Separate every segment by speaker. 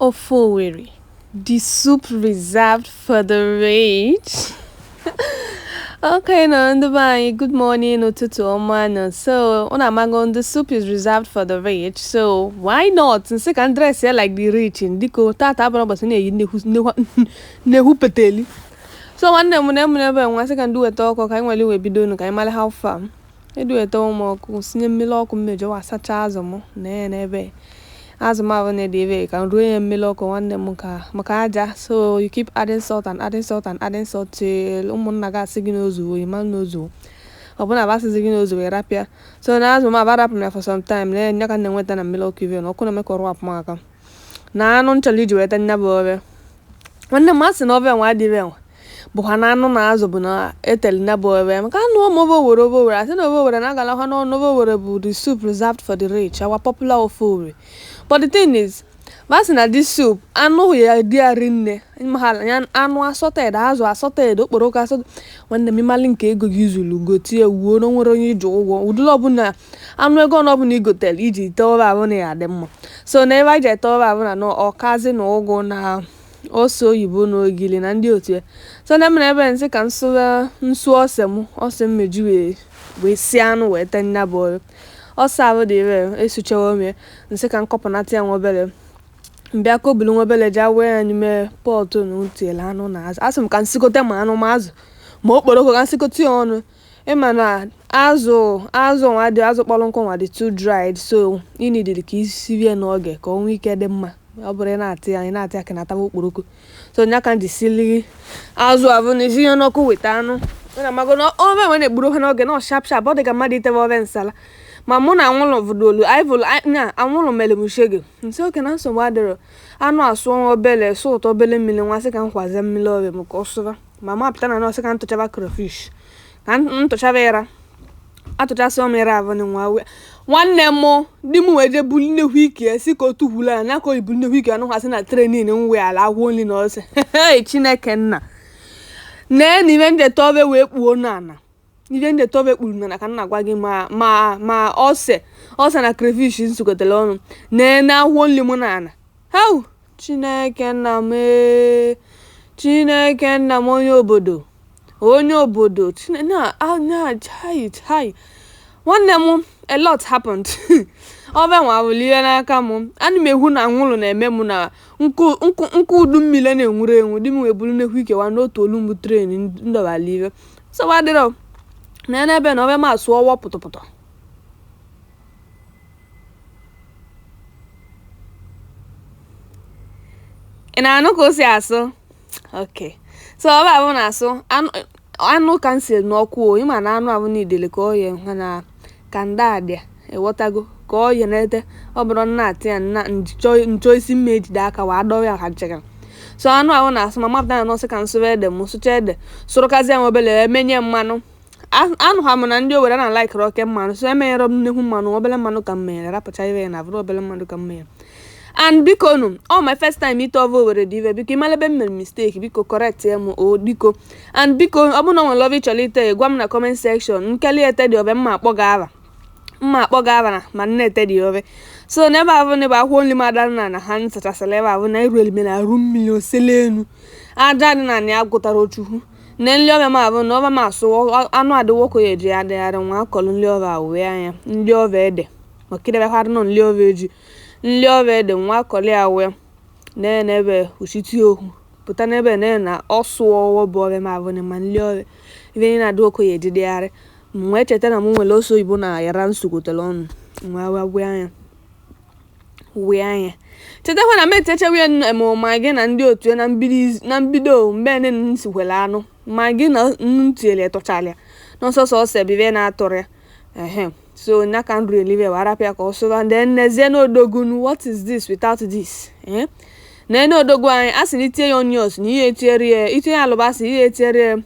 Speaker 1: Ofe Owerri, the soup reserved for the rich. okay ndị be anyị good morning ụtụtụ ọma nụ so ụnụ amago the soup is reserved for the rich so why not nsị ka m dress ya like the rich ndịko tata abụrọ ụbọsị na-eyi nnekwu peteli so nwanne m na emere ebe nwa sị ka nduweta ọkụ ka anyị nwere wee bido nụ ka anyị mara how far Eduwetewo m ọkụ, sinye mmiri ọkụ mmeji wee sacha azụ m na ya n'ebe azụ m avụ na-ede ebe ka m ruo ya mmiri ọkụ nwanne m maka aja so you keep adding salt and adding salt and adding salt till ụmụnna gị asị gị na o zuwo ị ma na o zuwo ọ bụrụ na va asịzi gị na o zuwo ị rapụ ya so na azụ m avụ arapụ m ya for some time na ya ka m na-enweta na mmiri ọkụ ive na ọkụ na-eme ka ọ rapụ m aka na anụ m chọrọ iji wee tee nya bụ ofe nwanne m asị na ofe nwa adịghị enwe bụkwa anụ na azụ bụ na etere nya bụ ofe maka na ọ bụ ofe owere ofe owere asị na ofe owere na-agalakwa ọnụ ofe owere bụ the soup reserved for the rich our popular ofe owere but the thing is ma sị na this soup anụ ya dị ya rinne mahala ya anụ assorted azụ assorted okporoko assorted nwanne m ị malị nke ego gị zuru gotie wuo na o nwerọ onye i ji ụgwọ ụdịrị ọbụla anụ ego ọnụ ọbụla i gotere iji tee ofe avụ na ya adị mma so na ive anyị ji ete ofe avụ bụ na ọkazi na ụgụ na ose oyibo na ogili na ndị otu ya so na emere ebe nsị ka nsụwa nsu ose m ose mmeji wee wee sie anụ wee tee nya bụ ofe ose avụ dị ire esuchawo m ya nsị ka nkọpụnata ya nwa obere mbịa ka obulu nwa obere jawee ya n'ime pọtụ ntiele anụ na azụ asị m ka nsikote ma anụ ma azụ ma okporoko ka nsikọta ya ọnụ ị ma na azụ azụ nwa dị azụ kpọrọ nkụ nwa dị too dried so ị need ka i sivie n'oge ka o nwee ike dị mma ọ bụrọ ị na-atị ya ị na-atị ya ka na-ataba okporoko so nya ka m ji sili azụ avụ na isi ya n'ọkụ weta anụ ụnụ amago na ofe nwa na-egburu ha n'oge na sharp sharp ọ dị ka mmadụ itebe ofe nsala ma mụ na anwụlụ vụdolu anyị vụlụ na anwụlụ mere m shege nsị okay na nsogbu adịrọ anụ asụọ obele sụpụta obele mmiri nwa sị ka m kwazie mmiri ofe m ka ọ sụba mama apụta na nọ sị ka ntụchaba crayfish ka ntụchaba ịra atụchasịwo m ịra avụ na nwa nwanne m di m wee jee buli nnekwu ike ya si ka o tukwulu ala nya ka o ji bu nnekwu ike anọkwasị na tray m nwere ịra akwụkwọ nri na ose chineke nna nee na ive m ji ete ofe wee kpuo n'ala Ife m ji ete ofe kpuru n'ana ka m na-agwa gị ma ma ma ose ose na crayfish nsukọtara ọnụ na akwụkwọ nri mụ na ana hau chineke nna m ee, chineke nna m onye obodo onye obodo Chine- na a- na chai chai nwanne m a lot happened ofe nwa wụrụ ihe n'aka m ana m ekwu na anwụrụ na-eme m na nkụ nkụ nkụ udu mmiri na-enwurọ enwu di m wee buru nnekwu ike wee nọtuolu m bụ tray m dọbara ive nsogbu adịrọ na ya n'ebe na ove m asụwo pụtụpụtụ ị na-anụ ka o si asụ ok so ove avụ na-asụ anụ ka m si n'ọkụ o ị ma na anụ avụ n'idele ka ọ ya ha na Ka ndị a dị a, ị ghọtago, ka ọ ye na-ete, ọ bụrụ na atị ya na nchọ isi mma ejide aka wee adọwa ya ha nchekara. So anụ ahụ na-asụ ma mapụta na nọsị ka m sụrụ ede m sụcha ede sụrụkazi ya obere emenye mmanụ anụ ha m na ndị Owerri na likerọ oke mmanụ so emenyerọ m nnekwu mmanụ obere mmanụ ka m menyere rapụcha ive ya na abụrụ obere mmanụ ka m menyere and biko nu ọ my first time ite ove Owerri dị ive biko ị malụ ebe m mere mistake biko correctịa m o biko and biko ọ bụrụ na o nwere ove ị chọrọ ite gwa m na comment section nkeli ete ụdị ove m ma akpọ gị ava m ma akpọ gị ava ma m na-ete ụdị ove so n'ebe ahụ na ebe akwụkwọ nri m ada na na ha nsachasịla ebe ahụ na iru elime na arụ mmiri osele enu aja dị na na ya gụtara ochukwu na nri ove m avụ na ove m asụ anụ adịwo okay ejidegharị nwa akọrọ nri ove wee anya nri ove ede maka idebekwa nọ nri ove eji nri ove ede nwa akọrọ ya wee na-enebe uchitie okwu pụta n'ebe na na ọ sụwo bụ ove m avụ na ma nli ove ive niile adị okay ejidegharị m wee cheta na m nwere ose oyibo na yara m sụkọtele ọnụ m wee wee wee anya wee anya chetakwa na m etechawa ya nnu- ma Maggi na ndị otu ya na mbido iz- na mbido mgbe nne m sikwere anụ Maggi na nnu tinyere tụchara ya na ọ sọsọ ose bụ ive na-atụrọ ya ehe so nya ka nri elive wee arapụ ya ka ọ sụba ndị nnezie na odogwu nu what is this without this eh? na ene odogwu anya a sị na itinye ya onions na ihe etinyere ya itinye ya alụbasa ihe etinyere ya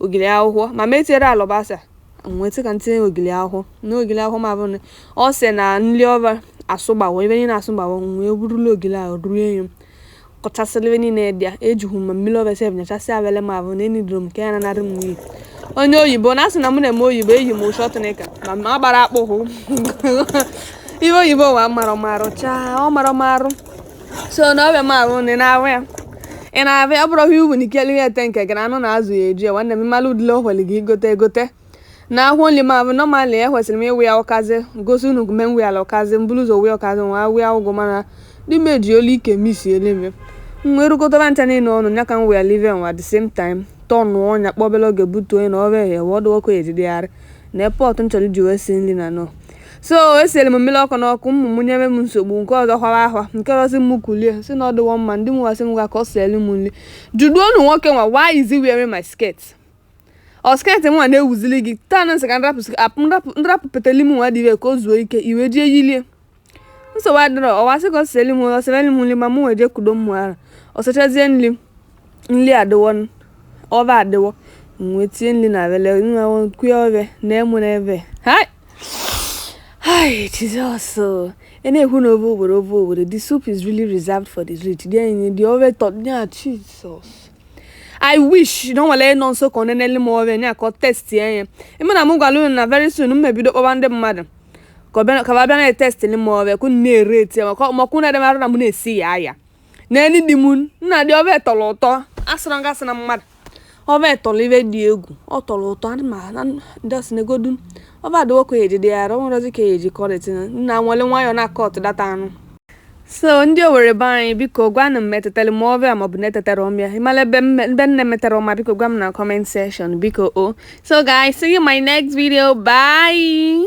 Speaker 1: ogili akwụkwọ ma m etinyerọ alụbasa m wee sị ka m tinye ogili akwụkwọ na ogili akwụkwọ ma bụrụ ọ sị na nri ove asụgbawo ebe niile asụgbawo wee burula ogili ahụ ruo enyo kọchasịlị ive niile dị ya ejughị m ma mmiri ove sef nyachasịa avele m ahụ na enidoro m ka ya nanarị m n'iyi onye oyibo na asị na mụ na-eme oyibo eyi m short knicker ma m agbara akpụkwụ ihe oyibo wa mara marụ chaa ọ mara marụ so na ove m avụ na ị na-ahụ ya ị na-ahụ ya ọ bụrụ ihe uwe na ike liri ete nke gị na anụ na azụ ya eji ya nwanne m mmalụ udile o hwere gị igote egote na akwụkwọ nri m a normally ekwesịrị m ịwụ ya ụkazị gosi unu gume nwe ala ụkazị m buru ụzọ wee ụkazị nwa wee ụgụ mana ndị meji olu ike misi eleme nwa erukọtara ncha niile ọnụ nya ka m wee live nwa the same time tọnụọ nya kpọbele oge butuo ya n'ọkụ ehe wee ọdụ ọkụ ejidegharị na pot m chọrọ iji wee si nri onuno so esiri m mmiri ọkụ n'ọkụ ụmụ m nyere m nsogbu nke ọzọ kwara ahwa nke ọzọ m kulie sị na ọ dịwo mma di m wee sị m ngwa ka o sielu m nri jụduo unu nwoke nwa why is he wearing my skirt ọ skirt nwa na-ewuzili gị taa na nsị ka nrapụ sị- apụ nrapụ nrapụ peteli m nwa dị ibe ka o zuo ike iwe jee yilie nsogbu adịrọ ọwa sị ka ọ sịrị m ọ sịrị m nri ma mụ wee jee kudo mmụ ara ọ sichazie nri nri adịwo n- ove adịwo m wee tinye nri na avele nwa kwe ove na emu na ebe hai Hi, Jesus. uh, And then who know ove ove Owerri. The soup is really reserved for the rich. Then the ove tọ, yeah, Jesus. i wish na o nwere onye nọ nso ka ọ nenele m ove anya ka ọ testi ya ịma na m gwara unu na very soon m ebido kpọwa ndị mmadụ ka ọ bịa- ka ba bịa na-etestili m ove ka unu na-ereti ya maka maka unu edemara na m na-esi ya aya n'elu di m nna the ove tọrọ ụtọ asịrọ m gị asị na mmadụ ove tọrọ ive dị egwu ọ tọrọ ụtọ ana m ana ndọsị negodu ove adịwo ka ya ejide ya ara ọ nwerọzi ka ya eji kọrịtị na nna nwere nwayọọ na-akọtụ that anụ so ndị Owerri be anyị biko gwanụ m ma etetara m ove maọbụ na etetarọ m ya ịmara ebe m na-emetarọ ọma biko gwa m na comment section biko o so guys see you in my next video bye